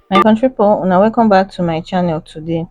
my country people una welcome back to my channel today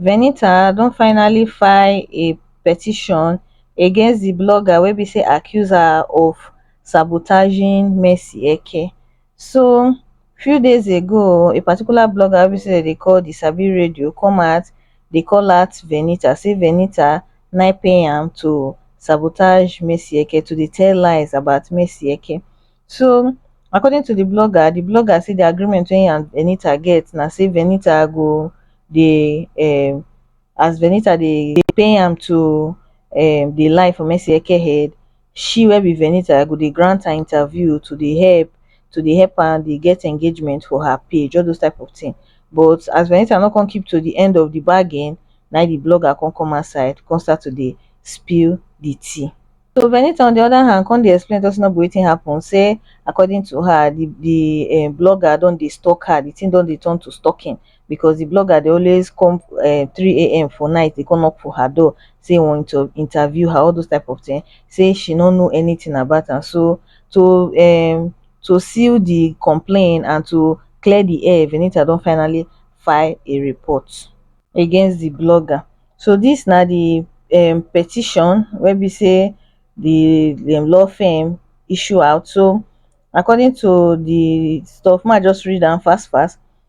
venita don finally file a petition against the blogger wey be say accuse her of sabotaging mercy eke So few days ago a particular blogger wey be sey dem dey call the sabi radio come out dey call out Venita sey Venita na im pay am to sabotage Macyeke to dey tell lies about Macyeke so according to the blogger, the blogger say the agreement wey him and Venita get na sey Venita go dey um as Venita dey pay am to um dey lie for Macyeke head she wey be venita go dey grant her interview to dey help to dey help am dey get engagement for her page all those type of thing but as venita no come keep to the end of the bargain na im the blogger come come outside come start to dey spill the tea so venita on the other hand come dey explain talk say no be wetin happen say according to her the the um blogger don dey stalk her the thing don dey turn to stalking because the blogger dey always come um three a.m for night dey come knock for her door say him want to interview her all those type of thing say she no know anything about am so to um to seal the complain and to clear the air Venita don finally file a report against the blogger so this na the um petition wey be say the the law firm issue out so according to the stuff make I just read am fast fast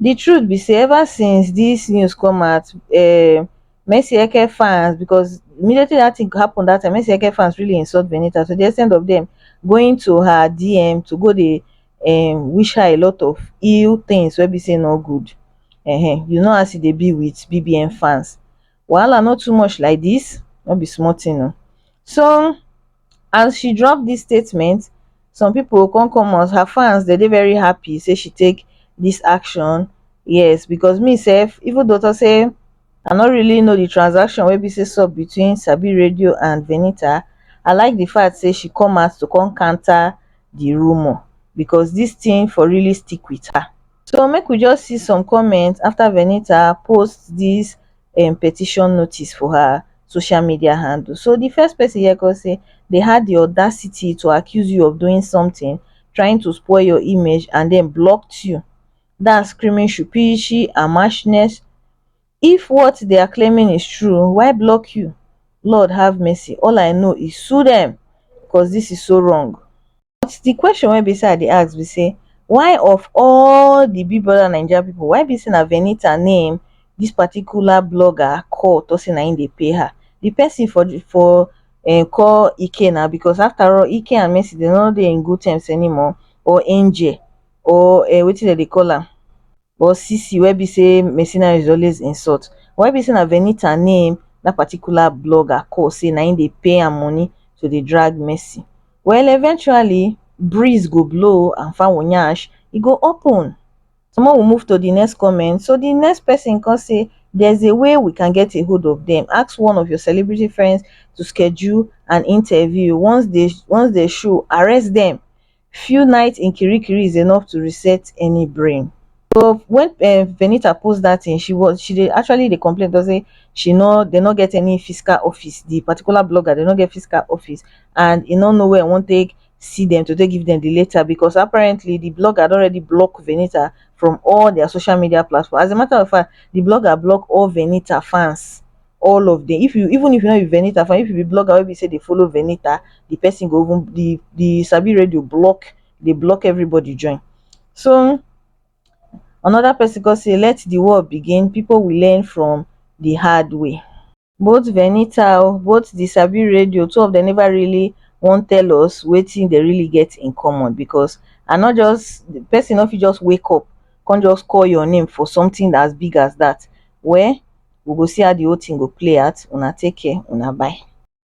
di truth be say ever since dis news come out um mercy eke fans because immediately dat thing happen dat time mercy eke fans really insult venita to di ex ten t of dem going to her DM to go dey um wish her a lot of ill things wey be say e no good um you know as e dey be with BBN fans wahala no too much like dis no be small thing oo so as she drop dis statement some pipo come come us her fans dey dey very happy say she take dis action yes becos me sef even though tok say i no really know di transaction wey be say sup between sabiriradio and venita i like di fact say she come out to come counter di rumour becos dis tin for really stick wit her so make we just see some comments afta venita post dis um petition notice for her social media handle so di first pesin here kon say dey had di audacity to accuse you of doing sometin trying to spoil your image and den blocked you dat screaming shupiishi and mashness if what they are claiming is true why block you lord have mercy all i know is sue dem cos dis is so wrong But the question wey be say I dey ask be say why of all the Big Brother Naija people, why be say na Venita name this particular blogger call talk say na him dey pay her? The person for the for um call Ike now because after all Ike and Mercy dem no dey in good terms anymore or Angel or um wetin dem dey call am or Sisi wey be sey mercenaries dey always insult wey be sey na Venita na im dat particular blogger call sey na im dey pay am money to dey drag Mercy well eventually breeze go blow and fowl nyash e go open so make we move to the next comment so the next person come say there is a way we can get a hold of them ask one of your celebrity friends to schedule an interview once they once they show arrest them few nights in kirikiri is enough to reset any brain so when um venita post that thing she was she dey actually dey complain because say she no they no get any physical office the particular blogger they no get physical office and e no know where e wan take see them to take give them the letter because apparently the blogger don already block venita from all their social media platform as a matter of fact the blogger block all venita fans all of them if you even if you no be venita fan if you be blogger wey be say dey follow venita the person go even the the sabi radio block dey block everybody join so another person come say let the war begin people will learn from the hard way both venita o both the sabi radio two of them never really wan tell us wetin they really get in common because i no just the person no fit just wake up come just call your name for something as big as that well we go see how the whole thing go play out una take care una bye